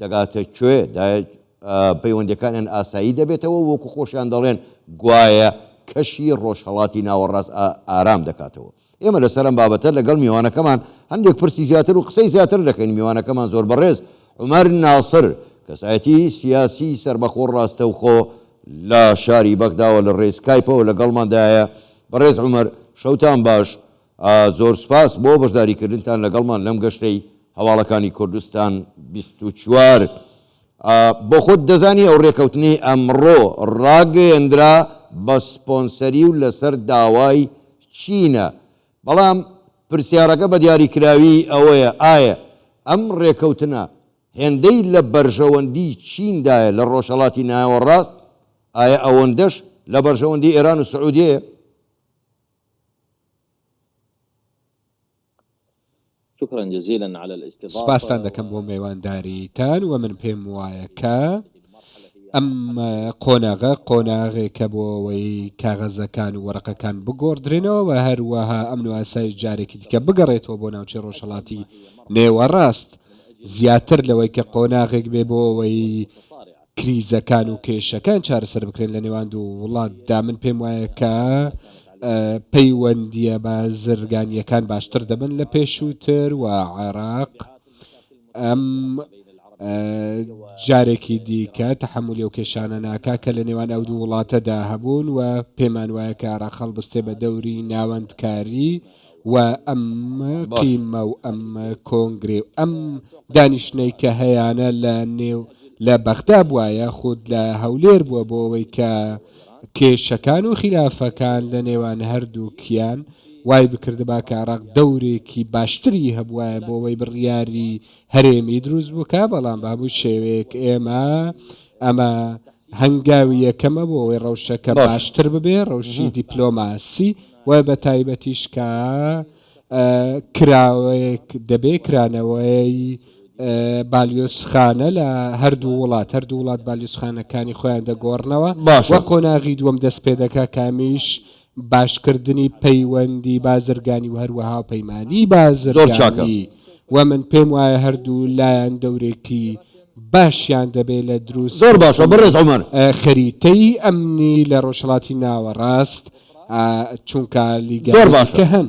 دەگاتە کوێ دا پەیوەندیەکانیان ئاسایی دەبێتەوە وەکو خۆشیان دەڵێن گوایە کەشی ڕۆژهەڵاتی ناوەڕاست ئارام دەکاتەوە. ئێمە لەسەر ئەم بابەتە لەگەڵ میوانەکەمان هەندێک پرسی زیاتر و قسەی زیاتر دەکەین میوانەکەمان زۆر بەڕێز عومەر ناسر کەسایەتی سیاسی سەربەخۆ ڕاستەوخۆ لە شاری بەغداوە لە ڕێی سکایپەوە لەگەڵماندایە. بەڕێز عومەر شەوتان باش زۆر سوپاس بۆ بەشداریکردنتان لەگەڵمان لەم گەشتەی هەواڵەکانی کوردستان بیست و چوار. بۆ خۆت دەزانی ئەو رێکەوتنەی ئەمڕۆ راگەیەندرا بە سپۆنسەری و لەسەر داوای چینە، بەڵام پرسیارەکە بە دیاریکراوی ئەوەیە ئایە ئەم رێکەوتنە هێندەی لە بەرژەوەندی چیندایە لە رۆژهەڵاتی ناوەڕاست، ئایە ئەوەندەش لە بەرژەوەندی ئێران و سعودیەیە؟ سوپاستان دەکەم بۆ مێوانداریتان وە من پێم وایە کە ئەم قۆناغە قۆناغێکە بۆ ئەوەی کاغەزەکان و وەرەقەکان بگۆڕدرێنەوە و هەروەها ئەمن و ئاسایش جارێکی دیکە بگەڕێتەوە بۆ ناوچەی ڕۆژهەڵاتی نێوەڕاست زیاتر لەوەی کە قۆناغێک بێ بۆ ئەوەی کریزەکان و کێشەکان چارەسەر بکرێن لە نێوان دوو وڵاتدا، من پێم وایە کە پەیوەندییە بازرگانییەکان باشتر دەبن لە پێشووتر و عێراق ئەم جارێکی دیکە تەحەمولی ئەو کێشانە ناکات کە لە نێوان ئەو دوو وڵاتەدا هەبوون و پێمان وایە کە عێراق هەڵبستێ بە دەوری ناوەندکاری و ئەم قیمە و ئەم کۆنگرێ و ئەم دانیشتنەی کە هەیانە لە نێو لە بەغدا بوایە خود لە هەولێر بووە بۆ ئەوەی کە کێشەکان و خیلافەکان لە نێوان هەردووکیان وای بکردبا کە عراق دەورێکی باشتری هەبوایە بۆ ئەوەی بڕیاری هەرێمی دروست بکە بەڵام بە هەموو شێوەیەک ئێمە ئەمە هەنگاوی یەکەمە بۆ ئەوەی ڕەوشەکە باشتر ببێ ڕەوشی دیپلۆماسی وە بە تایبەتیش کە کراوەیەک دەبێ کرانەوەی بالیۆزخانە لە هەردوو وڵات هەردوو وڵات بالیۆزخانەکانی خۆیان دەگۆڕنەوە باشە. وە قۆناغی دووەم دەست پێ دەکا کە ئەمیش باشکردنی پەیوەندی بازرگانی و هەروەها هاوپەیمانی زۆر چاکە. بازرگانی وە من پێم وایە هەردوو لایان دەورێکی باشیان دەبێ لە زۆر باشە دروستکردنی بەڕێز عومەر. خەریتەی ئەمنی لە ڕۆژهەڵاتی ناوەڕاست. چونکە زۆر لیگایەکی باشە کە هەن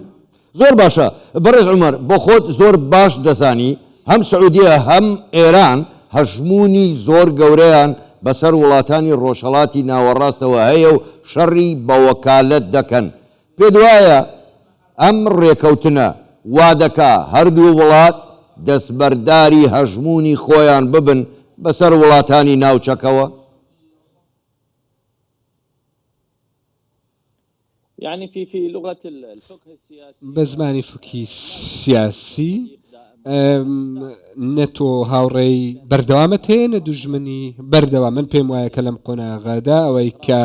زۆر باشە بەڕێز عومەر بۆ خۆت زۆر باش دەزانی هەم سعودیە هەم ئێران هەژموونی زۆر گەورەیان بەسەر وڵاتانی ڕۆژهەڵاتی ناوەڕاستەوە هەیە و شەڕی بە وەکالەت دەکەن پێت وایە ئەم ڕێکەوتنە وا دەکا هەردوو وڵات دەستبەرداری هەژموونی خۆیان ببن بەسەر وڵاتانی ناوچەکەوە؟ بە زمانی فوکهی سیاسی، نە تۆ هاوڕێی بەردەوامت هەیە نە دوژمنی بەردەوام، من پێم وایە کە لەم قۆناغەدا ئەوەی کە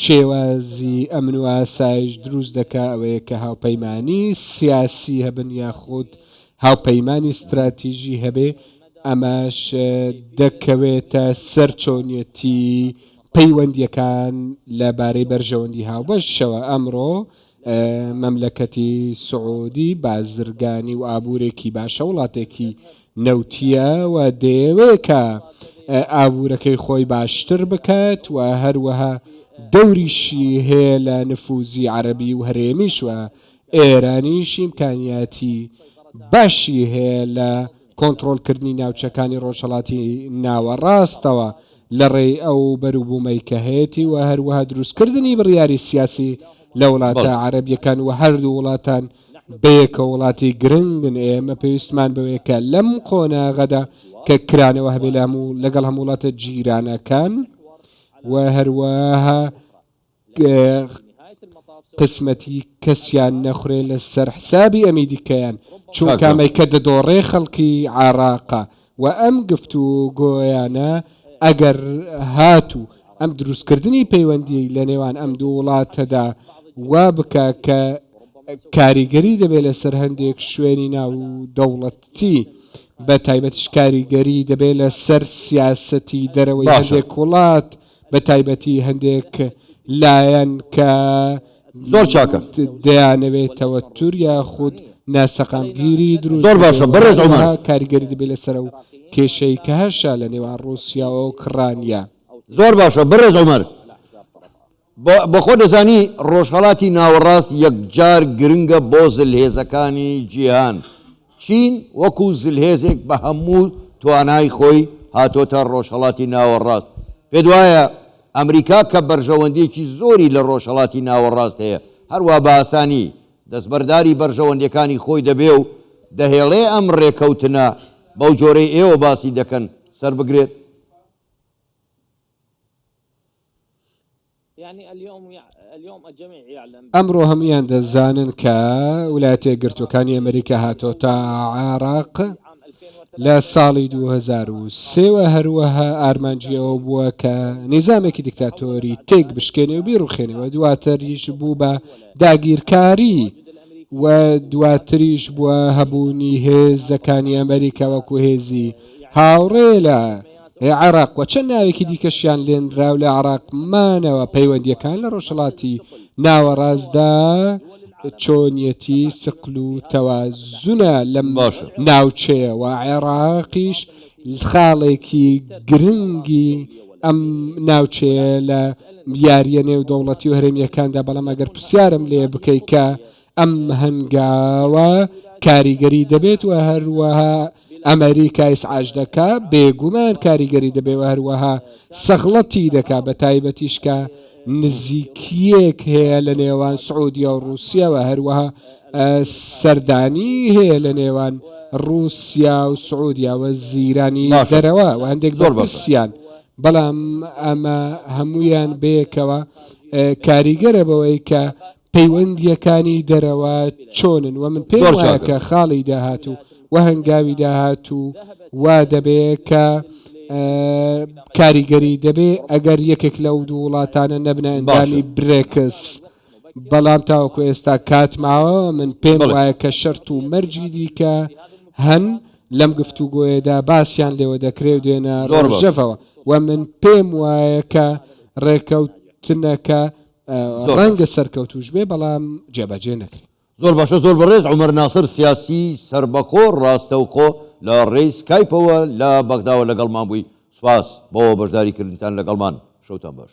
شێوازی ئەمن و ئاسایش دروست دەکا ئەوەیە کە هاوپەیمانی سیاسی هەبن یاخود هاوپەیمانی ستراتیژی هەبێ، ئەمەش دەکەوێتە سەر چۆنیەتی پەیوەندییەکان لە بارەی بەرژەوەندی هاوبەشەوە، ئەمڕۆ مەملەکەتی سعودی بازرگانی و ئابوورێکی باشە، وڵاتێکی نەوتییە و دەیەوێت کە ئابوورەکەی خۆی باشتر بکات و هەروەها دەوریشی هەیە لە نفوزی عەرەبی و هەرێمیش و ئێرانیش ئیمکانیاتی باشی هەیە لە کۆنتڕۆڵکردنی ناوچەکانی ڕۆژهەڵاتی ناوەڕاستەوە لە ڕێی ئەو بەروبوومەی کە هەیەتی و هەروەها دروستکردنی بڕیاری سیاسی لە وڵاتە عەرەبییەکان و هەردوو وڵاتان بەیەکەوە وڵاتی گرنگن ئێمە پێویستمان بەوەیە کە لەم قۆناغەدا کە کرانەوە هەبێ لە هەموو لەگەڵ هەموو وڵاتە جیرانەکان و هەروەها قسمەتی کەسیان نەخورێ لەسەر حسابی ئەمیدیکەیان چونکا مەیکە دەدۆڕێ خەڵکی عێڕاقە وە ئەم گفت و گۆیانە ئەگەر هات و ئەم دروست کردنی پەیوەندی لەنێوان ئەم دوو وڵاتەدا وا بکا کە کاریگەری دەبێ لەسەر هەندێک شوێنی ناودەوڵەتی بەتایبەتیش کاریگەری دەبێ لەسەر سیاسەتی دەرەوەی هەندێک وڵات باشە بە تایبەتی هەندێک لایەن کە زۆر چاکە دەیانەوێت تەوەتر یاخود ناسەقامگیری دروست زۆر باشە بکەن، بەڕێز عومەر. هەروەها کاریگەری دەبێت لەسەر ئەو کێشەی کە هەشە لە نێوان ڕووسیا و ئۆکڕانیا. زۆر باشە بەڕێز عومەر. بە بە خۆت دەزانی ڕۆژهەڵاتی ناوەڕاست یەکجار گرنگە بۆ زلهێزەکانی جیهان. چین وەکو زلهێزێک بە هەموو توانای خۆی هاتۆتە ڕۆژهەڵاتی ناوەڕاست، پێت وایە ئەمریکا کە بەرژەوەندییەکی زۆری لە ڕۆژهەڵاتی ناوەڕاست هەیە، هەروا بە ئاسانی دەستبەرداری بەرژەوەندییەکانی خۆی دەبێ و دەهێڵێ ئەم ڕێکەوتنە بەو جۆرەی ئێوە باسی دەکەن سەربگرێت؟ ئەمڕۆ هەموویان دەزانن کە ولایەتە یەکگرتووەکانی ئەمریکا هاتۆتە عێراق لە ساڵی 2023وە هەروەها ئارمانجیەوە بووە کە نیزامێکی دیکتاتۆری تێک بشکێنێ و بیڕوخێنەوە دواتریش بوو بە داگیرکاری و دواتریش بووە هەبوونی هێزەکانی ئەمریکا وەکو هێزی هاوڕێ لە ی عێراق و چەند ناوێکی دیکەشیان لێنرا و لە عێراق مانەوە، پەیوەندییەکان لە ڕۆژهەڵاتی ناوەڕاستدا چۆنیەتی سقل و تەوازنە لەم ناوچەیە و عێراقیش خاڵێکی گرنگی ئەم ناوچەیە لە یارییە نێودەوڵەتی و هەرێمییەکاندا، بەڵام ئەگەر پرسیارم لێ بکەی کە ئەم هەنگاوە کاریگەری دەبێت و هەروەها ئەمەریکایس عاج دەکا بێگومان کاریگەری دەبێ و هەروەها سەغڵەتی دەکا بە تایبەتیش کە نزیکییەک هەیە لە نێوان سعودیە و ڕووسیە و هەروەها سەردانی هەیە لە نێوان ڕووسیا و سعودیا و زیرانی دەرەوە و هەندێک زۆر بەسیان بەڵام ئەمە هەمویان بەیەکەوە کاریگەرە بەوەی کە پەیوەندییەکانی دەرەوە چۆنن و من پێم وایە کە خاڵی داهاتوو و هەنگاوی داهاتوو وا دەبێ کە کاریگەری دەبێ ئەگەر یەکێک لەو دوو وڵاتانە نەبنە ئەندامی برێکس بەڵام تاوەکو ئێستا کات ماوە من پێم وایە کە شەرت و مەرجی دیکە هەن لەم گفتوگۆیەدا باسییان لێوە دەکرێ و دێنە ڕۆژەفەوە و من پێم وایە کە ڕێکەوتنەکە ڕەنگە سەرکەوتوش بێ بەڵام جێبەجێ نەکرێ. زۆر باشە زۆر بەڕێز عومەر ناسر سیاسی سەربەخۆ ڕاستەوخۆ لە ڕێی سکایپەوە لە بەغداوە لەگەڵمان بووی سوپاس بۆ بەشداری کردنتان لەگەڵمان شەوتان باش.